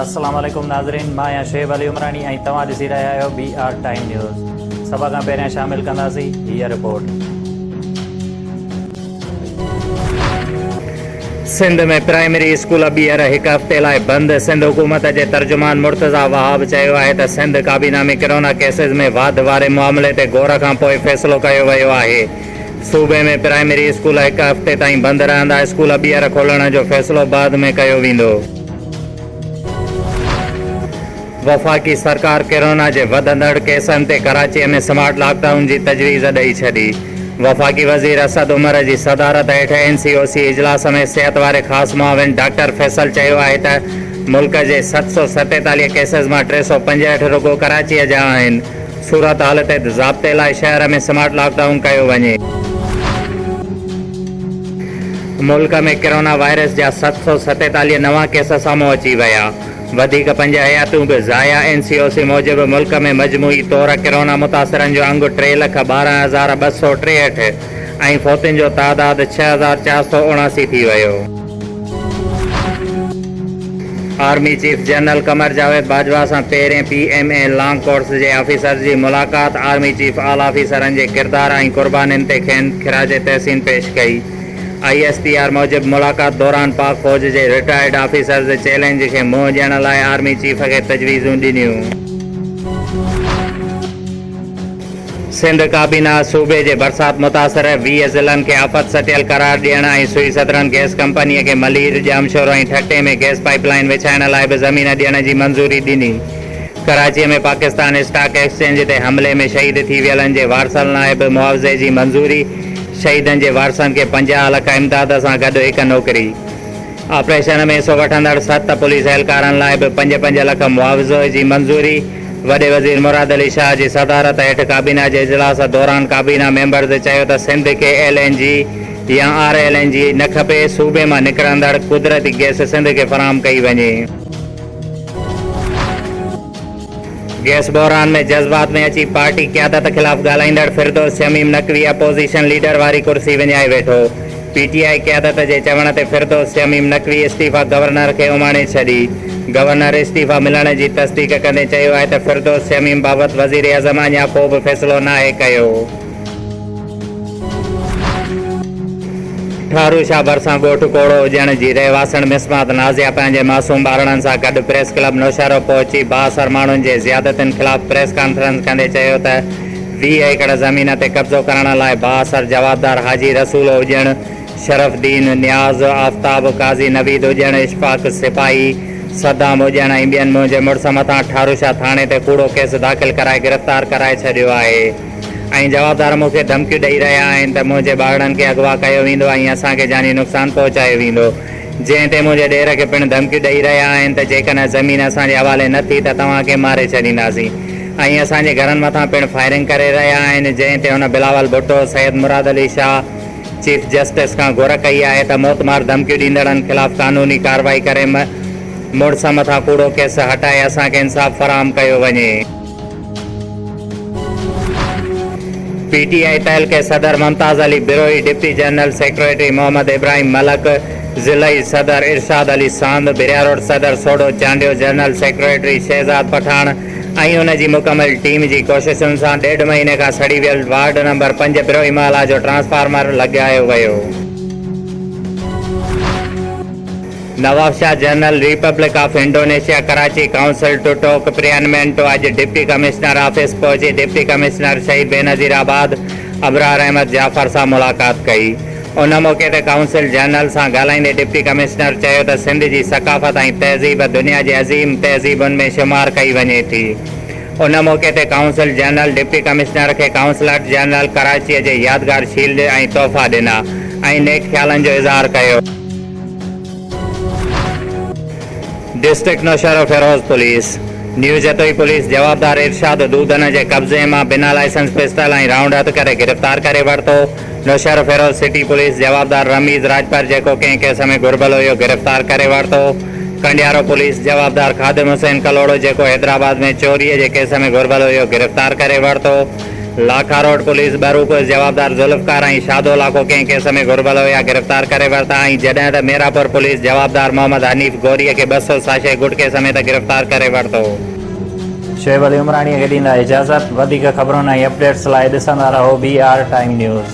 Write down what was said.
السلام عليڪم ناظرين مان آهيان شعيب علي عمراڻي ۽ توهان ڏسي رهيا آهيو بي آر ٽائيم نيوز سڀ کان پهريان شامل ڪنداسين هيء رپورٽ سنڌ ۾ پرائمري اسڪول ٻيهر هڪ هفتي لاء بند، سنڌ حڪومت جي ترجمان مرتضيٰ وهاب چيو آهي ته سنڌ ڪابينا ۾ ڪرونا ڪيسز ۾ واڌ واري معاملي تي غور کان پوء فيصلو ڪيو ويو آهي، صوبي ۾ پرائمري اسڪول هڪ هفتي تائين بند رهندا، اسڪول ٻيهر کولڻ جو فيصلو بعد ۾ ڪيو ويندو. وفاقي سرڪار ڪرونا جي وڌندڙ ڪيسن تي ڪراچيء ۾ سمارٽ لاڪ ڊائون جي تجويز ڏئي ڇڏي. وفاقي وزير اسد عمر جي صدارت هيٺ اين سي او سي اجلاس ۾ صحت واري خاص معاون ڊاڪٽر فيصل چيو آهي ته ملڪ جي ست سؤ ستيتاليهه ڪيسز مان ٽي سؤ پنجهٺ رڳو ڪراچيء جا آهن، صورتحال تي ضابطي لاء شهر ۾ سمارٽ لاڪ ڊائون ڪيو وڃي. ملڪ ۾ ڪرونا وائرس جا ست سؤ ستيتاليهه نوان ڪيس سامهون اچي ويا. وڌيڪ پنج حياتيون به ضايع اين سي او سي موجب ملڪ ۾ مجموعي طور ڪرونا متاثرن جو انگ ٽي لک ٻارهن هزار ٻه سؤ ٽيهٺ ۽ فوتين جو تعداد ڇهه هزار چار سؤ اڻاسي ٿي ويو. Army chief general Qamar Javed Bajwa سان پهرين P M A long course جي آفيسرز جي ملاقات، آرمي چيف آل آفيسرن جي ڪردار ۽ قربانين تي کين خراج تحسين پيش ڪئي. آء ايس پي آر موجب ملاقات دوران پاڪ فوج جي رٽائرڊ آفيسرز چئلينج کي منهن ڏيڻ لاء آرمي چيف کي تجويزون ڏنيون. سنڌ ڪابينا صوبي جي برسات متاثر ويهه ضلعن کي آفت سٽيل قرار ڏيڻ ۽ سوئي سدرن گئس ڪمپني کي Malir, Jamshoro ۽ Thatta ۾ gas pipeline وڇائڻ لاء به زمين ڏيڻ جي منظوري ڏني. ڪراچي ۾ پاڪستان اسٽاڪ ايڪسچينج تي حملي ۾ شهيد ٿي ويلن جي وارثن لاء به معاوضي جي منظوري، شهيدن جي وارثن کي پنجاهه لک امداد سان گڏ هڪ نوڪري. آپريشن ۾ حصو وٺندڙ ست پوليس اهلڪارن لاء به پنج پنج لک معاوضي جي منظوري، وڏي وزير مراد علي شاهه جي صدارت هيٺ ڪابينا جي اجلاس دوران ڪابينا ميمبرز چيو ته سنڌ کي ايل اين جي يا آر ايل اين جي نه کپي، صوبي مان نڪرندڙ قدرتي گئس سنڌ کي فراهم ڪئي وڃي. گيس بحران ۾ جذبات ۾ اچي پارٽي قيادت خلاف ڳالهائيندڙ فردوس شميم نقوي اپوزيشن ليڊر واري ڪرسي وڃائي ويٺو، پي ٽي آء قيادت جي چوڻ تي فردوس شميم نقوي استعيفيٰ گورنر کي اماڻي ڇڏي، گورنر استعيفيٰ ملڻ جي تصديق ڪندي چيو آهي ته فردوس شميم بابت وزيراعظم اڃا ڪو به فيصلو ناهي ڪيو. ٺارو شاهه ڀرسان ڳوٺ ڪوڙو اڄڻ جي رهواسڻ مسمات نازيا پنهنجي معصوم ٻارڙن سان گڏ پريس ڪلب نوشهرو پهچي بااثر ماڻهن جي زيادتين خلاف پريس ڪانفرنس ڪندي چيو ته ويهه ايڪڙ زمين تي قبضو ڪرڻ لاء بااثر جوابدار حاجي رسول اڄڻ، شرف الدين نياز، آفتاب، قاضي نويد اڄڻ، اشفاق سپاهي، صدام اڄڻ ۽ ٻين منهنجي مڙس مٿان ٺاروشاهه ٿاڻي تي ڪوڙو ڪيس داخل ڪرائي گرفتار ڪرائي ڇڏيو آهي. ۽ جوابدار مون کي ڌمڪيون ڏئي رهيا آهن ته منهنجي ٻارڙن کي اغوا ڪيو ويندو ۽ اسان کي جاني نقصان پهچايو ويندو، جنهن تي منهنجي ڏير کي پڻ ڌمڪيون ڏئي رهيا آهن ته جيڪڏهن زمين اسان جي حوالي نه ٿي ته توهان کي ماري ڇڏينداسين ۽ اسان جي گهرن مٿان پڻ فائرنگ ڪري رهيا آهن، جنهن تي هن بلاول ڀٽو، سيد مراد علي شاهه، چيف جسٽس کان گهر ڪئي آهي ته موتمار ڌمڪيون ڏيندڙن خلاف قانوني ڪارروائي ڪري مڙس مٿان ڪوڙو ڪيس هٽائي اسان کي انصاف فراهم ڪيو وڃي. پي ٽي آء تعلقي صدر Mumtaz Ali Brohi, deputy general secretary Muhammad Ibrahim Malik, ضلعي صدر ارشاد علي ساند، بهراروڊ صدر سوڍو چانڊيو، جنرل سيڪريٽري شهزاد پٺاڻ ۽ ان جي مڪمل ٽيم جي ڪوششن سان ڏيڍ مهيني کان سڙي ويل وارڊ نمبر پنج بروهي محلا جو ٽرانسفارمر لڳايو ويو. Nawabshah general republic of Indonesia Karachi council Totok Priyanmento اڄ ڊپٽي ڪمشنر آفيس پهچي ڊپٽي ڪمشنر شهيد بينظير آباد ابرار احمد جعفر سان ملاقات ڪئي ان موقعي تي ڪائونسل جنرل سان ڳالهائيندي ڊپٽي ڪمشنر چيو ته سنڌ جي ثقافت ۽ تهذيب دنيا جي عظيم تهذيبن ۾ شمار ڪئي وڃي ٿي ان موقعي تي ڪائونسل جنرل ڊپٽي ڪمشنر کي ڪائونسلٽ جنرل ڪراچي جي يادگار شيلڊ ۽ تحفا ڏنا ۽ نيڪ خيالن جو اظهار ڪيو. District Naushahro Feroze police new Jatoi police جوابدار ارشاد دودن جي قبضي مان بنا لائسنس پسٽل ۽ رائونڊ هٿ ڪري گرفتار ڪري ورتو نوشهروفيروز سٽي پوليس جوابدار رميز راڄپر جيڪو ڪنهن ڪيس ۾ گهربل هيو گرفتار ڪري ورتو ڪنڊيارو پوليس جوابدار خادم حسين ڪلهوڙو جيڪو حيدرآباد ۾ چوري جي ڪيس ۾ گهربل هيو گرفتار ڪري ورتو. لاکاروڊ پوليس ٻروڪوس جوابدار ذوالفقار ۽ شادو لاکو ڪنهن ڪيس ۾ گهربل هيا گرفتار ڪري ورتا آهن جڏهن ته ميرپور پوليس جوابدار محمد حنيف گوري کي ٻه سو ساشي گٽڪي سميت گرفتار ڪري ورتو. شعيب علي عمراڻي کي ڏيندا اجازت. وڌيڪ خبرن ۽ اپڊيٽس لاء ڏسندا رهو بي آر ٽائيم نيوز.